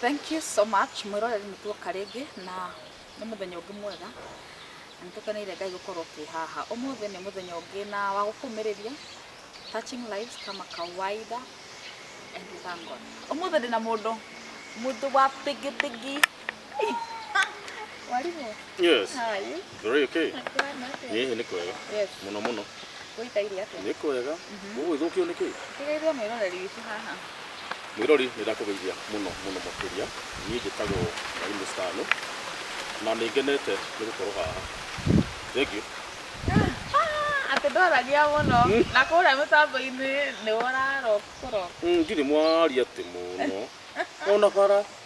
Thank you so much mwĩroreri nĩ tuoka rĩngĩ na nĩ mũthenya ũngĩ mwega na nĩtũkeneire Ngai gũkorwo twĩ haha ũmũthĩ nĩ mũthenya ũngĩ na wa gũkũmĩrĩria touching lives kama kawaida and we thank God ũmũthĩ ndĩna mũndũ mũndũ wa bigibigi Mwarimũ, Yes. how are you? Very okay. Kũhana atĩa? Niĩ nĩ kwega. Yes, Mũno mũno. gũikaire atĩa? Nĩ kwega. Ũguo ithũkio nĩ kĩĩ? Tigairwo mwĩroreri witũ haha. Mwĩrori nĩ ndakũgeithia mũno mũno makĩria. Niĩ njĩtagwo Mwarimũ Stano. Na nĩ ngenete nĩ gũkorwo haha. Thank you. Ah, atĩ ndoragia mũno na kũrĩa mĩtambo-inĩ nĩ ũrarokũrok. Mm, Ndirĩ mwaria atĩ mũno. Ona bara.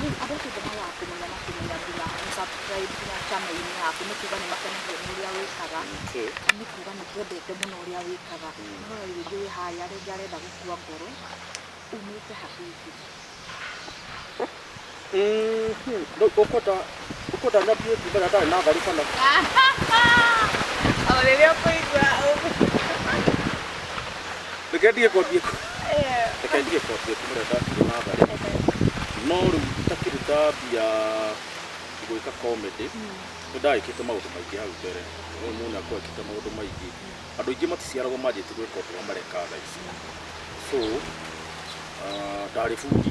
Nĩ andũ acio ndoraga kũmenya na kũmenya nginya gũ subscribe nginya channel-inĩ yaku nĩ kuga nĩ makenagia nĩ ũrĩa wĩkaga, na nĩ kuga nĩ twendete mũno ũrĩa wĩkaga. Nĩ ũrona rĩu rĩngĩ wĩ harĩa rĩngĩ arenda gũkua ngoro umĩte hakuhĩ biũ. Ũkũtanya biũ ti mbere atarĩ na tharĩ kana. O rĩrĩa ũkũigua ũguo. Reke ndige kwambie. Eh, Reke ndige kwambie ti mbere ndatigwo na tharĩ. No rĩu itakĩruta mbia gwĩka comedy. Nĩ ndagĩkĩte maũndũ maingĩ hau mbere. Ũyũ mũnene akoo ekĩte maũndũ maingĩ. Andũ aingĩ maticiaragwo manjĩtie gwĩka ũndũ ũrĩa mareka thaa ici. So, ah, ndarĩ bundi.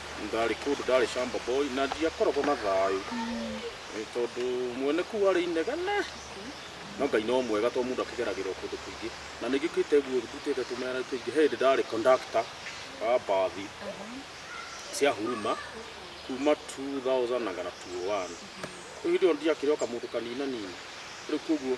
ndarĩ kũndũ ndarĩ shamba boy na ndiakoragwo na thayũ Nĩ tondũ mwene kuu arĩ inegene no ngai no mwega tondũ mũndũ akĩgeragĩrwo kũndũ kũingĩ na nĩ njũkĩte guo ndutĩte tũmera tũingĩ he hĩndĩ ndarĩ conductor wa mbathi cia huruma kuma 2000 na kana 201 rĩu hĩndĩ ĩyo ndiakĩrĩ o kamũndũ kaninanini rĩu koguo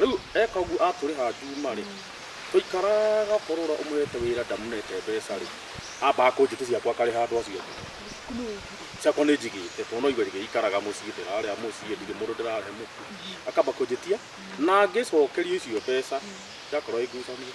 Rĩu eka ũguo atũrĩha Juma-rĩ, tũikaraga ũkorora ũmũrehete wĩra ndamũnete mbeca-rĩ, ambaga kũnjĩtia ciakwa akarĩha andũ acio angĩ. Ciakwa nĩ njigĩte tondũ no irio irĩikaraga mũciĩ ndĩrarĩa mũciĩ ndirĩ mũndũ ndĩrahe mũtu. Akamba kũnjĩtia na ngĩcokerio icio mbeca ndakorwo ĩ ngucanio.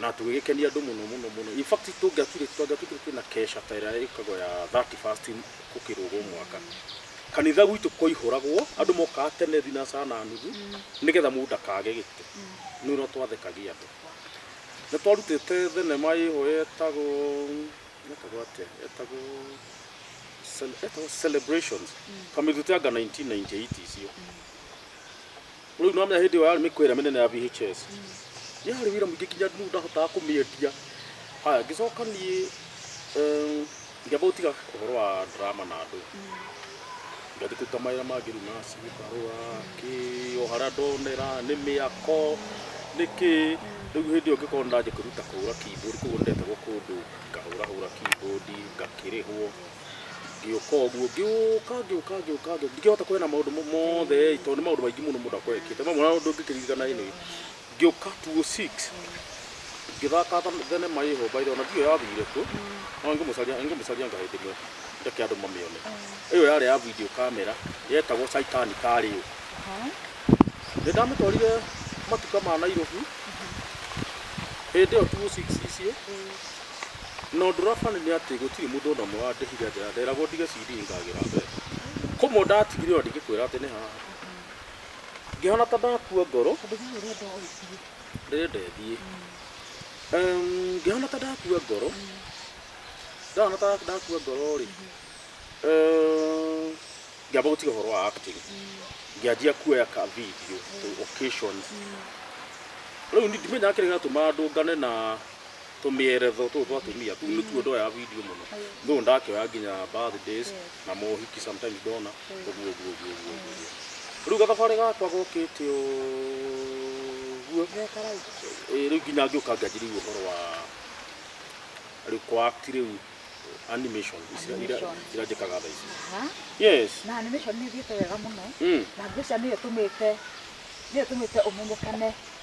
na tũgĩgĩkenia andũ mũno mũno mũno in fact tũngĩaturĩ tũngĩaturĩ twĩna kesha ta ĩrĩa ĩkagwo ya 31st gũkĩrũgwo mwaka kanitha gwitũ kwaihũragwo andũ mokaga tene thinacara na nuthu nĩgetha mũndũ ndakage gĩtĩ nĩ ũrĩa twathekagia andũ nĩ twarutĩte thenema ĩho yetagwo yetagwo atĩa yetagwo Cel- yetagwo celebrations kamĩruta anga 1998 icio Rĩu nĩwamenya hĩndĩ ĩyo yarĩ mĩkwa ĩrĩa mĩnene ya VHS. Nĩ harĩ wĩra mũingĩ nginya rĩu ndahotaga kũmĩendia. Haya, ngĩcoka niĩ eh, ngĩamba gũtiga ũhoro wa drama na andũ. Ngathiĩ kũruta mawĩra mangĩ rĩu naci ngarũra kĩ o harĩa ndonera nĩ mĩako nĩ kĩ. Rĩu hĩndĩ ĩyo ngĩkorwo nĩndanjia kwĩruta kũhũra keyboard, koguo nĩndeterwo kũndũ ngahũrahũra keyboard ngakĩrĩhwo. ngĩũka ũguo ngĩũka ngĩũka ngĩũka ngĩũka ndingĩhota kwena maũndũ mo- mothe ĩ, tondũ nĩ maũndũ maingĩ mũno mũndũ akorwo ekĩte mamwe na ũndũ ngĩkĩririkana ĩ nĩ ngĩũka 206 ngĩthaka tha- thenema ĩho mbaire ona ndiyo yathire kuo no ngĩmũcaria ngĩmũcaria ngaĩ ndĩmwe ndeke andũ mamĩone ĩyo yarĩ ya video camera yetagwo Caitani karĩ ũ nĩ ndamĩtwarire matuka ma Nairobi hĩndĩ ĩyo 206 icio Na ũndũ ũrĩa funny nĩ atĩ gũtirĩ mũndũ ona ũmwe wandĩhire atĩ nderagwo ndige CD ngagĩra mbeca. Kũmwe ndatigire ona ndingĩkwĩra atĩ nĩ haha. Ngĩhana ta ndakua ngoro. Tondũ we ũrenda ũthiĩ. Ndĩrenda ĩthiĩ. Em, Ngĩhana ta ndakua ngoro. Ndahana ta ndakua ngoro rĩ. em, Ngĩamba gũtiga ũhoro wa acting. Ngĩanjia kuoya ka video to occasion. Rĩu ndimenyaga kĩrĩa gĩatũma ndũngane na tũmĩeretho tũtũ twa atumia tu nĩtuo ndoya video mũno no ndakĩoya nginya birthdays na mohiki sometimes ndona ũguo ũguo ũguo ũguo ũguo rĩu gathabarĩ gakwa gokĩte ũguo Ĩĩ, rĩu nginya ngĩũka ngĩanjĩrĩria ũhoro wa rĩu kũact rĩu animation ici ira- ira- Animation. irandĩkaga thaa ici Ha? yes na animation nĩ ithiĩte wega mũno mm. na mbica nĩyo ĩtũmĩte nĩyo ĩtũmĩte ũmenyekane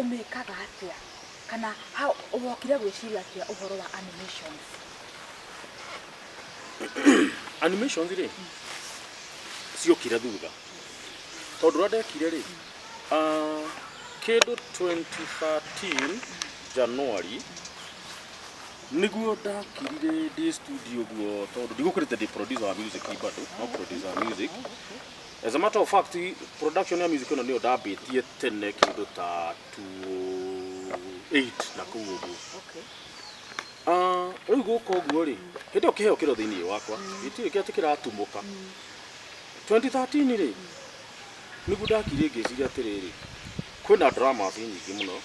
ũmĩkaga atĩa kana how wokire gwĩciria atĩa ũhoro wa animation animations rĩ ciokire thutha tondũ ũrĩa ndekire rĩ ah, kĩndũ 2013 januari nĩguo ndakirire ndĩ studio guo tondũ ndigũkĩrĩte ndĩ producer wa music bado no producer wa music As a matter of fact, production ya music ĩno nĩyo ndambĩtie tene kĩndũ ta 208 na kũu ũguo. Okay. Ah, rĩu gũka ũguo rĩ, hĩndĩ ĩyo kĩheo kĩro thĩinĩ wakwa, gĩtirĩ kĩa atĩ kĩratumũka. 2013 rĩ, nĩguo ndakire ngĩciria atĩrĩrĩ, kwĩna drama atĩ nyingĩ mũno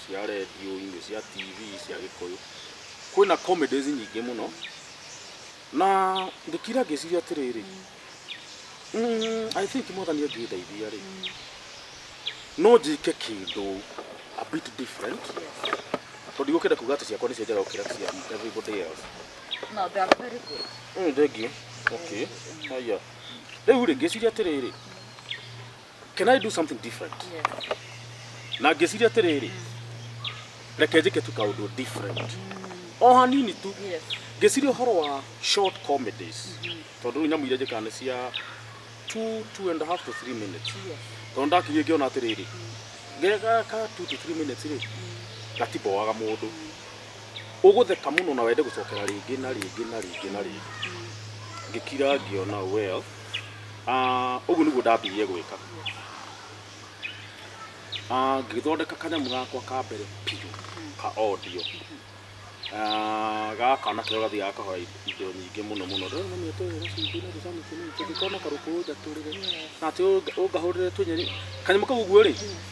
cia redio-inĩ, cia TV, cia gĩkũyũ, kwĩna comedies nyingĩ mũno, na ndĩkira ngĩciria atĩrĩrĩ, Mm, I think mwathani ũngĩndeithia rĩ no njĩke kĩndũ a bit different tondũ igũkĩenda kuga atĩ ciakwa nĩcio njega gũkĩra cia everybody else No, they are very good. Mm, thengiũ okay haya rĩu rĩ ngĩciria atĩrĩrĩ can i do something different Yes. na ngĩciria atĩrĩrĩ reke njĩke tu kaũndũ different o hanini tu Yes. ngĩciria ũhoro wa short comedies tondũ rĩu nyamũ iria njĩkaga nĩ cia two, two and a half to three minutes Yes. tondũ ndakirie ngĩona atĩrĩrĩ gega ka two to three minutes rĩ gatiboaga mũndũ ũgũtheka mũno na wende gũcokera rĩngĩ na rĩngĩ na rĩngĩ na rĩngĩ ngĩkira ngĩona well Ah, ũguo nĩguo ndambirie gwĩka Ah, ngĩthondeka kanyamũ gakwa ka mbere biũ ka audio Ah, gaka na kĩo gathiaga kahoya indo nyingĩ mũno mũno rĩu mami atũrĩre cumbĩ na tũcamũ tũnini tũngĩkorwo na karũkũ ũnjatũrĩre na atĩ ũnga- ũngahũrĩre tũnyeni kanyamũ kau ũguo rĩ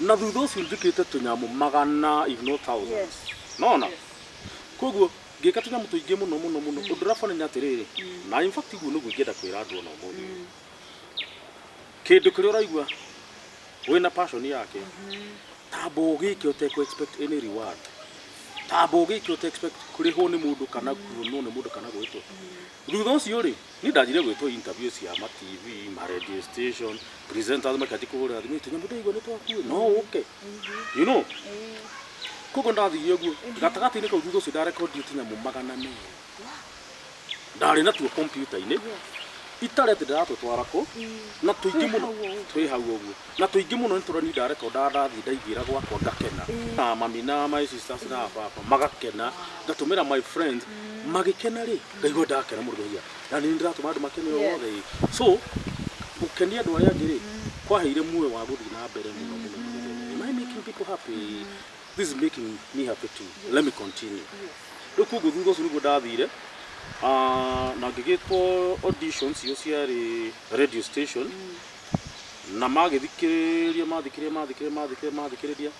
na thutha ũcio njĩkĩte tũnyamũ magana if not thousands Yes. nona koguo ngĩka tũnyamũ tũingĩ mũno mũno mũno ũndũ ũrabana nĩ atĩrĩrĩ na in fact guo nĩguo ingĩenda kwĩra andũ ona ũmũthĩ ũyũ. kĩndũ kĩrĩa ũraigua wĩna passion yake tamba ũgĩke ũtekũ expect any reward tamba ũgĩke ũte expect kũrĩhwo nĩ mũndũ kana kuonwo nĩ mũndũ kana gwĩtwo Thutha ũcio-rĩ, niĩ ndanjire gwĩtwo interview cia ma TV, ma radio station, presenters makĩanjia kũhũrĩra thimũ, "Ĩtĩ nyamũ ndaigua nĩ twakuĩ, no ũke?" You know? Koguo ndathiire ũguo, gatagatĩ-inĩ kau thutha ũcio ndarekondi ĩtĩ nyamũ magana merĩ. Ndarĩ natuo kompiuta-inĩ, itarĩ atĩ ndĩratũtwara kũ, na tũingĩ mũno, twĩ hau ũguo. na tũingĩ mũno nĩtũroni ndareka ũndaga ndathiĩ ndaingĩra gwakwa ngakena na mami na my sisters na baba magakena ngatũmĩra my friends magĩkena rĩ ngaigua ndakena mũndũ ndaigua na nĩ ndĩratũma andũ makene Yes. othe ĩ so gũkenia andũ arĩa angĩ rĩ kwaheire muoyo wa gũthiĩ na mbere mũno mũno mũno mũno am I making people happy this is making me happy too let me continue rĩu koguo thutha ũcio nĩguo ndathire Ah, na ngĩgĩtwo auditions icio ciarĩ radio station na magĩthikĩrĩria mathikĩrĩria mathikĩrĩria mathikĩrĩria mathikĩrĩria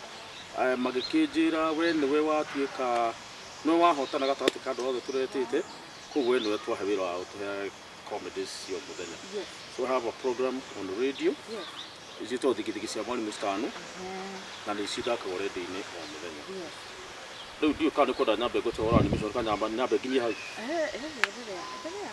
eh, magĩkĩnjĩra we nĩwe watuĩka nĩwe wahotana gatagatĩ ka andũ othe tũretĩte koguo we nĩwe twahe wĩra wa gũtũhe comedies cia mũthenya Yes. so I have a program on radio Yes. ciĩtwo thigithigi cia mwarimũ citano na nĩ cithakagwo redio-inĩ o mũthenya Yes. rĩu ndiũ kana nĩ kwenda nyambe ngũte wara nĩ mĩcoro kana nyambe nyambe nginyie hau Eh, eh, endelea, endelea.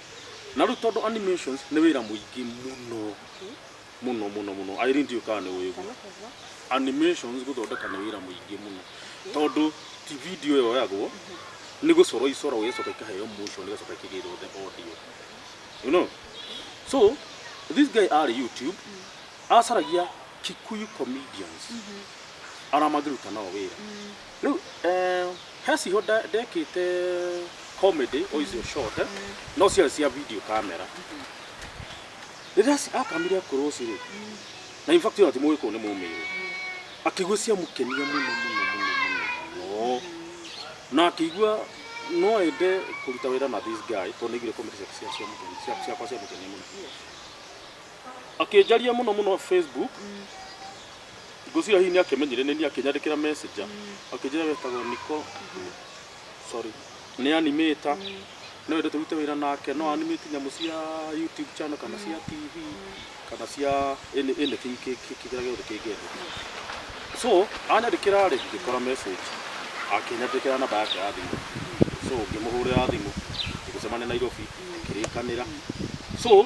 na rĩu tondũ animations nĩ wĩra mũingĩ mũno mũno mũno mũno Irene ndiũĩ kana nĩ ũĩ ũguo animations gũthondeka nĩ wĩra mũingĩ mũno tondũ ti video yoyagwo nĩ gũcorwo icoragwo igacoka ikaheo motion igacoka ikĩgĩrwo the audio you know so this guy arĩ youtube acaragia kikuyu comedians aramangĩruta nao wĩra Rĩu eh, he ciho nda- ndekĩte comedy o icio short eh, no ciarĩ cia video camera rĩrĩa ci- akamire akũrwo ũcio rĩ na in fact ona ti mũgĩkũyũ nĩ mũmĩrĩ akĩigua ciamũkenia mũno mũno mũno mũno mũno na akĩigua no ende kũruta wĩra na this guy tondũ nĩaiguire comedy ciake cia- ciamũkenia- cia- ciakwa ciamũkenia mũno akĩnjaria mũno mũno facebook ngũcira hihi nĩ akĩmenyire nĩ niĩ akĩnyandĩkĩra messenger akĩnjĩra wetagwo niko sorry nĩ animator no wende tũrute wĩra nake no animate nyamũ cia youtube channel kana cia tv kana cia any anything kĩ- kĩ- kĩrĩa gĩothe kĩngĩendeka so anyandĩkĩra rĩ ngĩkora message akĩnyandĩkĩra namba yake ya thimũ so ngĩmũhũrĩra thimũ tũgĩcemania nairobi akĩrĩkanĩra so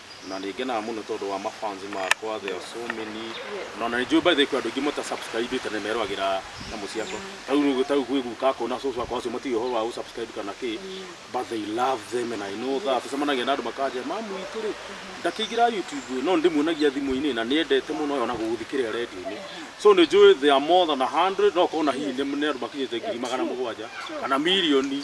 na nĩ ngenaga mũno tondũ wa mafans makwa there are so many na ona nĩ njũĩ by the way kwĩ andũ aingĩ mũta subscribe na merũagĩra nyamũ ciakwa ta rĩu nĩ ta rĩu gwĩ guka akwa na cũcũ akwa acio matiũĩ ũhoro wa gũ subscribe kana kĩ but they love them and I know that tũcemanagia na andũ makanjĩra mamu witũ rĩ ndakĩingĩra YouTube ĩ no ndĩmuonagia thimũ-inĩ na nĩ endete mũno ĩ ona gũgũthikĩrĩra radio-inĩ so nĩ njũĩ there are more than a hundred no ũkorwo ona hihi nĩ andũ makinyĩte ngiri magana mũgwanja kana mirioni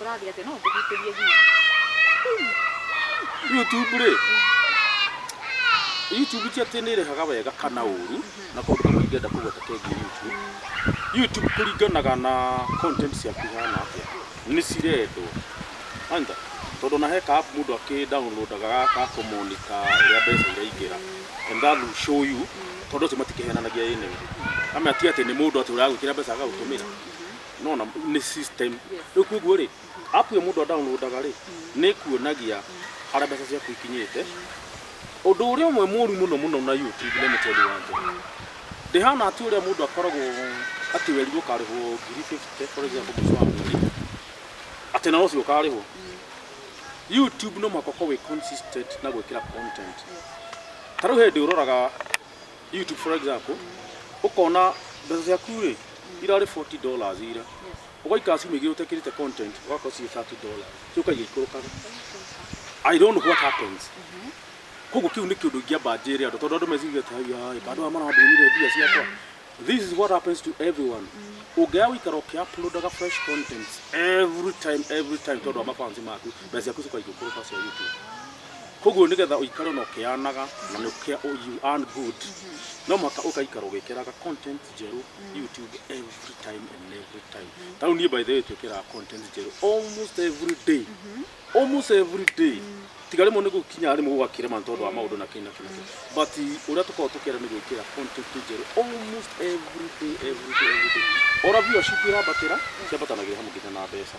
Ũrathiĩ atĩ no ngũgitĩrie hihi. YouTube rĩ YouTube ti atĩ nĩ ĩrĩhaga wega kana ũru na kaũndũ kamwe ingĩenda kũgweta kegiĩ YouTube YouTube kũringanaga na content ciaku ihana atĩa nĩ cirendwo aitha tondũ ona he ka app mũndũ akĩ downloadaga ga ga kũ monitor ũrĩa mbeca iraingĩra and that will show you tondũ acio matikĩhenanagia ĩnĩ ũndũ ama ti atĩ nĩ mũndũ atĩ ũragwĩkĩra mbeca agagũtũmĩra no na nĩ system rĩu koguo rĩ app ĩyo mũndũ adownloadaga rĩ nĩ kuonagia harĩa mbeca ciaku ikinyĩte ũndũ ũrĩa ũmwe mũru mũno mũno na YouTube let me tell you one thing ndĩhana atĩ ũrĩa mũndũ akoragwo atĩ werirwo ũkarĩhwo ngiri 50 for example mũico wa mweri atĩ na ũcio ũkarĩhwo YouTube no mũhaka ũkorwo wĩ consistent na gwĩkĩra content ta rĩu he hĩndĩ ũroraga YouTube for example ukona mbeca ciaku rĩ irarĩ 40 dollars ira ugaikara ciumia igĩrĩ ũtekĩrĩte content ũgakorwo ciĩ 30 dollars rĩu kaigĩa ikũrũkaga I don't know what happens koguo kĩu nĩ kĩũndũ ingĩamba njĩre andũ tondũ andũ meciria atĩ haiya andũ aya marambĩrire mbia ciakwa this is what happens to everyone ũngĩaya gũikara ũkĩuploadaga fresh content every time every time tondũ wa mafansi maku mbeca ciaku cikaigũkũrũka cia YouTube Koguo nĩgetha ũikare na ũkĩyanaga na nĩ ũkĩa you earn good no mũhaka ũgaikara ũgĩkĩraga content njerũ YouTube every time and every time. Ta rĩu niĩ by the way twĩkĩraga content njerũ almost every day almost every day tiga rĩmwe nĩ gũkinya rĩmwe gũgakĩrema nĩ tondũ wa maũndũ na kĩ na kĩ na kĩ but ũrĩa tũkoragwo tũkĩenda nĩ gwĩkĩra content njerũ almost every day every day every day. Ona viewership ĩrambatĩra ciambatanagĩria hamwe nginya na mbeca.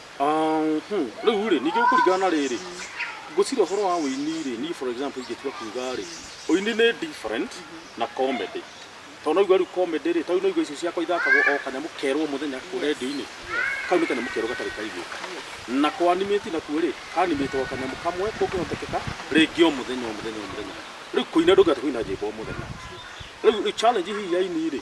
Mhm. Rĩu rĩ, ningĩ kũringana na rĩrĩ, ngwĩciria ũhoro wa ũini rĩ, niĩ for example ingĩtua kuga rĩ, ũini nĩ different na comedy. Tondũ no uge rĩu comedy rĩ, ta rĩu no uge icio ciakwa ithakagwo o kanyamũ kerũ o mũthenya kũu Yes. rendio-inĩ, Yes. kau nĩ kanyamũ kerũ gatarĩ kaiguĩka. Na kũ animate nakuo rĩ, ka animate o kanyamũ kamwe kũngĩhotekeka rĩngĩ o mũthenya o mũthenya o mũthenya. Rĩu kũina ndũngĩhota kũina nyĩmbo o mũthenya. Rĩu challenge hihi ya aini rĩ,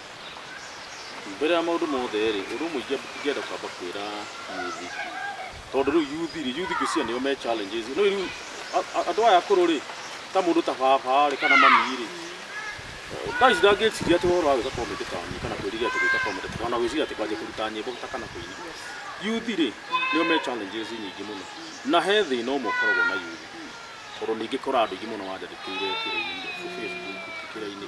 Mbere ya maũndũ mothe-rĩ, ũndũ ũmwe ingĩamba ingĩenda kwamba kwĩra yuthi, tondũ rĩu yuthi-rĩ, yuthi ngwĩciria nĩo me challenges. Nĩũĩ rĩu a- a- andũ aya akũrũ-rĩ, ta mũndũ ta baba-rĩ kana mami-rĩ, thaa ici ndangĩciria atĩ ũhoro wa gwĩka comedy ta niĩ kana kwĩrirĩria atĩ gwĩka comedy ta kana gwĩciria atĩ kwanjia kũruta nyĩmbo ta kana kũina. Yuthi-rĩ, nĩo me challenges nyingĩ mũno, na he thĩna ũmwe ũkoragwo na yuthi, tondũ nĩngĩkora andũ aingĩ mũno manjandĩkĩire kĩrĩa-inĩ, Facebook kĩrĩa-inĩ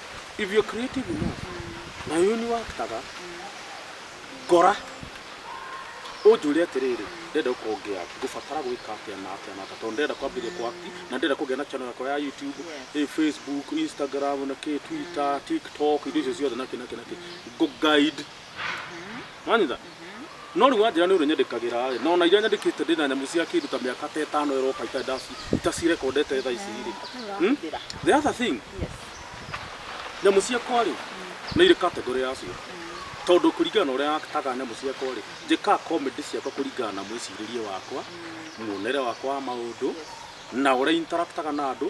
if you're creative enough na yo ni waktaga ngora unjũre atĩrĩrĩ ndenda gũkorwo ngĩaki ngũbatara gwĩka atĩa na atĩa na atĩa tondũ ndenda kwambĩrĩria kwaki na ndenda kũgĩa na channel yakwa ya youtube eh, facebook instagram na kĩ twitter tiktok indo icio ciothe na kĩ na kĩ na kĩ ngũ guide wanyita no rĩu wanjĩra nĩ ũrĩ nyandĩkagĩra rĩ nona iria nyandĩkĩte ndĩ na nyamũ cia kĩndũ ta mĩaka ta ĩtano ĩroka itarĩ ndaci- itacirekondete thaa ici rĩ Hmm? Ndĩra. the other thing Yes. nyamũ ciakwa rĩ nĩ irĩ kategorĩ yacio tondũ kũringana na ũrĩa taga nyamũ ciakwa rĩ njĩkaga comedy ciakwa kũringana na mwĩcirĩrie wakwa muonere wakwa wa maũndũ na ũrĩa interactaga na andũ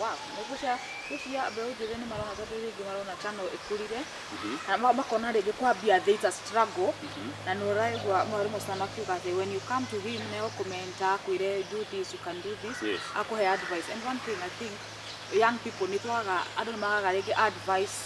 Wow, nĩguo cia ici cia mbeũ njĩthĩ nĩ marona tondũ rĩngĩ marona ta no ĩkũrire na ma- makona rĩngĩ kwambia there is a struggle na nĩ ũraigua mwarimũ ũcio makiuga atĩ when you come to him nĩ agũkũmenta akwĩre do this you can do this Yes. akũhe advice and one thing I think young people nĩ twagaga andũ nĩ magaga rĩngĩ advice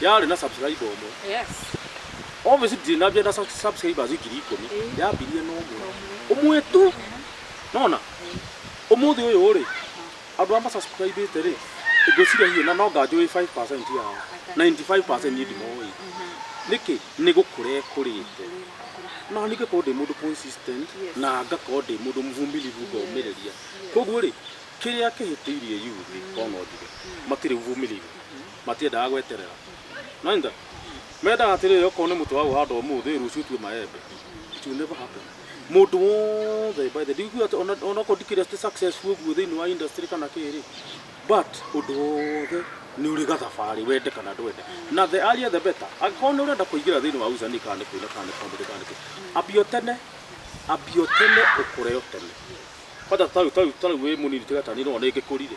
yarĩ na subscriber ũmwe Yes. obviously ndirĩ na mbia na sub- subscribers ngiri ikũmi Eh. yambirie na ũmwe ũmwe tu nona ũmũthĩ ũyũ rĩ andũ a masubscribĩte rĩ ngwĩciria hihi na no nganjũĩ 5% yao 95% niĩ ndimoĩ nĩkĩ nĩ gũkũra kũrĩte no ningĩ korwo ndĩ mũndũ consistent Yes. na ngakorwo ndĩ mũndũ mũvumilivu ngomĩrĩria koguo rĩ kĩrĩa kĩhĩtĩirie yuthi kono njuge matirĩ ũvumilivu matiendaga gweterera nainda mendaga atĩrĩrĩ okorwo nĩ mũtĩ wa ũhanda ũmũthĩ rũciũ tue maembe it will never happen mũndũ wothe by the ndikuga atĩ ona- ona okorwo ndikĩrĩ atĩ successful ũguo thĩinĩ wa industry kana kĩrĩ but ũndũ wothe nĩ ũrĩ gathabarĩ wende kana ndwende na the earlier the better angĩkorwo nĩ ũrenda kũingĩra thĩinĩ wa usanii kana nĩ kũina kana nĩ comedy kana nĩ kĩ ambio tene ambio tene ũkũre o tene kwanja tarĩu tarĩu tarĩu wĩ mũnini tiga tani no nĩngĩkũrire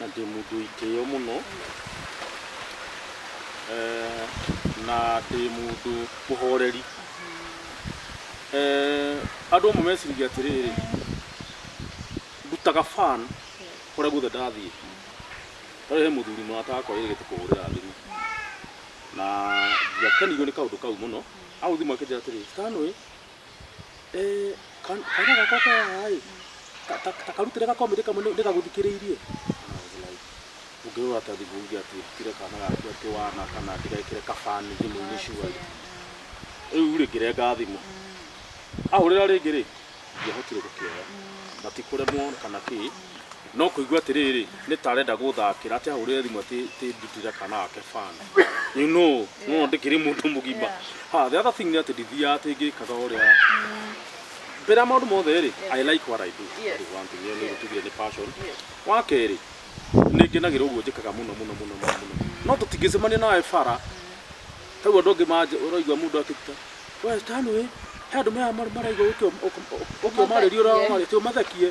Na ndĩ mũndũ wĩ kĩyo mũno, eh, na ndĩ mũndũ mũhoreri. Eh, andũ amwe meciragia atĩrĩrĩ, ndutaga fan kũrĩa guothe ndathiĩ. Ta rĩu he mũthuri mũrata wakwa wĩrĩgĩte kũhũrĩra thimũ, na ndiakenirio nĩ kaũndũ kau mũno. Ahũrĩra thimũ akĩnjĩra atĩrĩ, Stanley, Eh, kan- kaira gakwa ke haha ĩ ka- ka- ta karutire gakomĩtĩ kamwe nĩ- nĩgagũthikĩrĩirie And I was like, ũngĩrora ta thimũ uge atĩ ndutire kana gaku atĩ wana kana ndigekĩre kabani thimũ-inĩ cuarĩ rĩu rĩ ngĩrenga thimũ ahũrĩra rĩngĩ rĩ ndiahotire gũkĩoya na ti kũremwo kana kĩ No kũigua atĩrĩrĩ nĩ ta arenda gũthakĩra atĩ ahũrĩre thimũ atĩ atĩ ndutĩre kana ake fan you know no ndĩkĩrĩ mũndũ mũgima ha the other thing nĩ atĩ ndithiaga atĩ ngĩkaga ũrĩa mbere ya maũndũ mothe rĩ I like what I do Yes. That is one thing ĩyo nĩ Yes. gũtugire nĩ passion Yes. wa kerĩ nĩ ngenagĩra ũguo njĩkaga mũno mũno mũno mũno mũno no tũtingĩcemania nawe bara hau andũ angĩ manje ũraigua mũndũ akĩruta we stanway he andũ maya mar- maraigua ũkĩo- ũk- ũk- ũkĩomarĩria ũramarĩria ũmathekie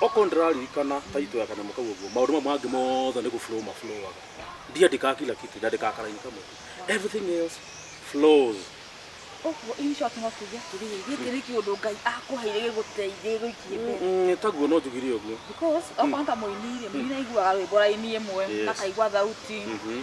Okorwo nĩ ndĩraririkana title ya kanyamũ kau ũguo, maũndũ mau mangĩ mothe nĩ gũ flow ma flow aga. Ndiandĩkaga kila kitu, ndandĩkaga ka line kamwe tu. Everything else flows. Ũguo in short no tuge atĩrĩrĩ, gĩkĩ nĩ kĩũndũ Ngai akũheire gĩgũteithie gĩgũikie mbere. Mm, mm, taguo no njugire ũguo. Because okorwo nĩ ta mũini-rĩ, mũini nĩ aiguaga rwĩmbo raini ĩmwe, Yes. akaigua thauti. Mhm.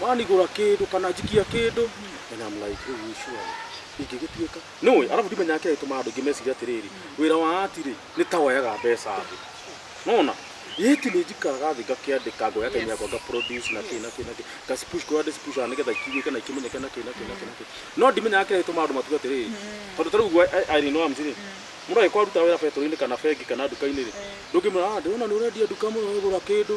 Wanigũra kĩndũ kana njikia kĩndũ, and I'm like, rĩu hii surely ingĩgĩtuĩka. Nĩũĩ, arabu ndimenyaga kĩrĩa gĩtũmaga andũ aingĩ mecirie atĩrĩrĩ, wĩra wa ati-rĩ, nĩ ta woyaga mbeca thĩ. Nĩwona? Ĩti nĩnjikaraga thĩ ngakĩandĩka, ngoya time yakwa nga produce na kĩ na kĩ na kĩ, nga spush kũrĩa ndĩ spush-aga nĩgetha ikĩiguĩke na ikĩmenyeke na kĩ na kĩ na kĩ na kĩ. No ndimenyaga kĩrĩa gĩtũmaga andũ matuge atĩrĩrĩ, tondũ ta rĩu ũguo I- Irene Wamzi-rĩ, mũndũ angĩkorwo arutaga wĩra betũrũ-inĩ kana bengi kana nduka-inĩ-rĩ, ndũngĩmwĩra, ah, ndĩrona nĩũrendia nduka mũno ũgũra kĩndũ,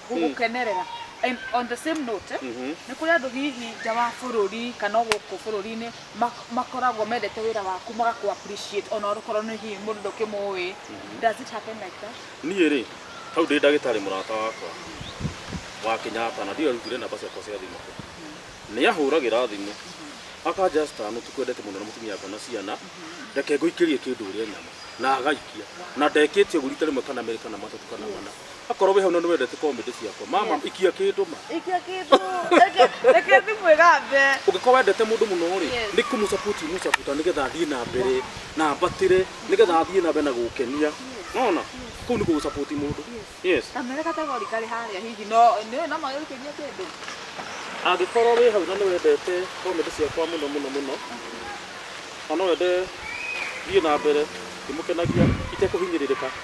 gũgũkenerera and on the same note Mhm. nĩ kũrĩ andũ hihi nja wa bũrũri kana o gũkũ bũrũri-inĩ mak- makoragwo mendete wĩra waku magakũ appreciate ona okorwo nĩ hihi mũndũ ndũkĩmũĩ does it happen like that niĩ rĩ hau ndĩ ndagĩtarĩ mũrata wakwa wa Kenyatta na ndiyo arutire namba ciakwa cia thimũ kũ nĩ ahũragĩra thimũ akanja star nĩ tũkwendete mũno na mũtumia akwa na ciana reke ngũikĩrie kĩndũ ũrĩa nyama na agaikia na ndekĩtie ũguo rita rĩmwe kana merĩ kana matatũ kana mana akorwo wĩ hau na nĩ wendete comedy ciakwa mama Yes. ikia kĩndũ ma ikia kĩndũ reke- reke thimũ ĩgambe ũngĩkorwo wendete mũndũ mũno rĩ Yes. nĩ kũmũcabuti mũcabuta nĩgetha athiĩ na mbere na mbatĩre nĩgetha athiĩ na mbere na gũkenia nona kũu nĩ gũgũcabuti mũndũ yes kamere kategori karĩ harĩa hihi no nĩũĩ no magĩkĩria kĩndũ angĩkorwo wĩ hau na nĩ wendete comedy ciakwa mũno mũno mũno na no wende thiĩ na mbere ngĩmũkenagia itekũhinyĩrĩrĩka